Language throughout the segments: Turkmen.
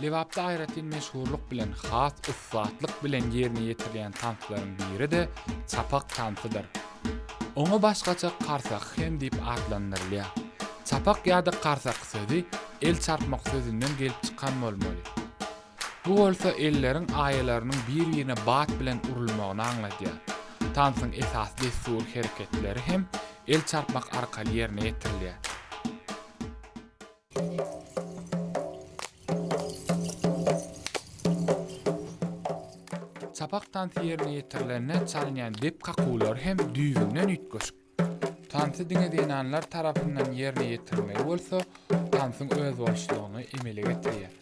Lebapda aýratyn meşhurlyk bilen has ussatlyk bilen ýerine ýetirilýän tanslaryň biri-de çapak tansydyr. Oňa başgaça karsak hem diýip atlandyrylýar. Çapak ýa-da karsak sözi El çarpmak sözünden gelip çykan bolmaly. Bu bolsa elleriň aýalarynyň bir-birine bat bilen urulmagyny aňladýar. Tansyň esasy dessury hereketleri hem el çarpmak arkaly ýerine ýetirilýär. Çapak tansy ýerine ýetirilende çalynýan dep kakuwlary hem düýbünden üýtgeşik. Tansy diňe zenanlar tarapyndan ýerine ýetirilmegi bolsa, tansyň özboluşlygyny emele getirýär.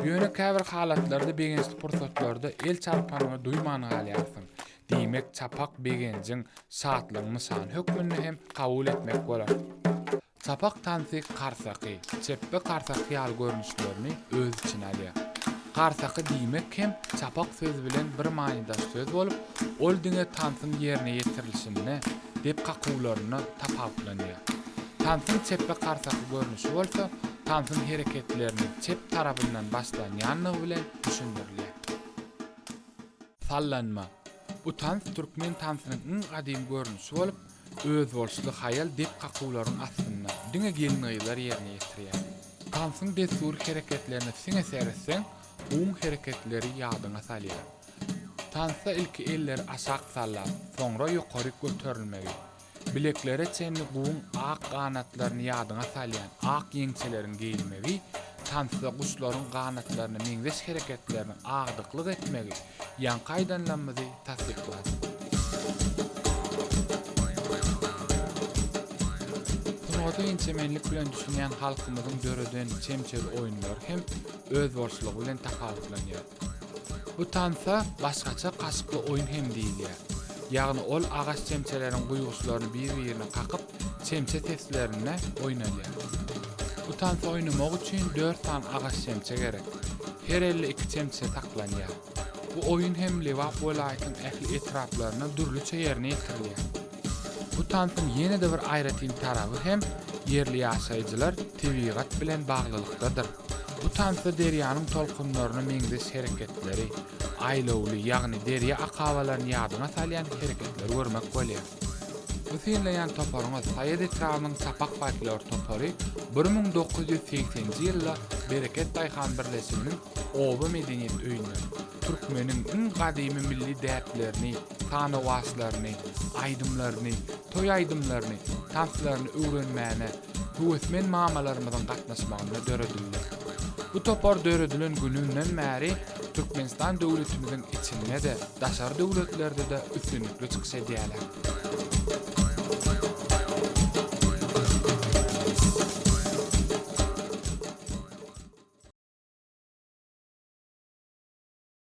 Ýöne käbir halatlarda begençli pursatlarda el çarpanyňy duýman galýarsyň. Diýmek, çapak begenjiň, şatlygyň nyşany hökmünde hem kabul etmek bolar. Sapak tansy karsaky, çepbe karsaky ýaly görnüşlerini öz içine alýar. Karsaky diýmek hem çapak sözi bilen bir manydaş söz bolup, ol diňe tansyň ýerine ýetirilişinde, dep kakuwlarynda tapawutlanýar. Tansyň çepbe karsaky görnüşi bolsa, tansyň hereketlerini çep tarabyndan başlanýandygy bilen düşündirilýär. Sallanma. Bu tans türkmen tansynyň iň gadymy görnüşi bolup, Özboluşly haýal dep kakuwlaryň astynda, diňe gelin-gyzlar ýerine ýetirýär. Tansyň dessury hereketlerine siňe seretseň, gum hereketleri ýadyňa salýar. Tansda ilki elleri aşak sallap, soňra ýokaryk göterilmegi, bileklere çenli guwyň ak ganatlaryny ýadyňa salýan ak ýeňçeleriň geýilmegi, tansda guşlaryň ganatlaryna meňzeş hereketleriniň agdyklyk etmegi, Ýaňky aýdanlamyzy tassyklar. Sungata inçemenlik bilen düşünýän halkymyzyň döreden çemçeli oýunlary hem özboluşlygy bilen tapawutlanýar. Bu tansa başgaça kaşykly oýun hem diýilýär. Ýagny ol agaç çemçeleriň guýguçlaryny bir-birine kakyp, çemçe seslerinde oýnalýar. Bu tansy oýnamak üçin dört sany agaç çemçe gerek. Her elde iki çemçe saklanýar. Bu oýun hem Lebap welaýatynyň ähli etraplarynda dürlüçe ýerine ýetirilýär. Bu tansyň ýene-de bir aýratyn taraby hem ýerli ýaşaýjylar tebigat bilen baglylykdadyr. Bu tansda derýanyň tolkunlaryna meňzeş hereketleri, aýlawly, ýagny derýa akabalaryny ýadyňa salýan hereketleri görmek bolýar. Bu synlaýan toparyňyz Saýat etrabynyň Sapak folklor topary bir müň dokuz ýüz segsen nji ýylda Bereket daýhan birleşiginiň Oba medeniýet öýünden türkmeniň iň gadymy milli däplerini, sanawaçlaryny, aýdymlaryny, toý aýdymlaryny, tanslaryny öwrenmäne, höwesmen mamalarymyzyň gatnaşmagynda döredildi. Bu topar döredilen gününden bäri Türkmenistan döwletimiziň içinde-de, daşary döwletlerde-de üstünlikli çykyş edýärler.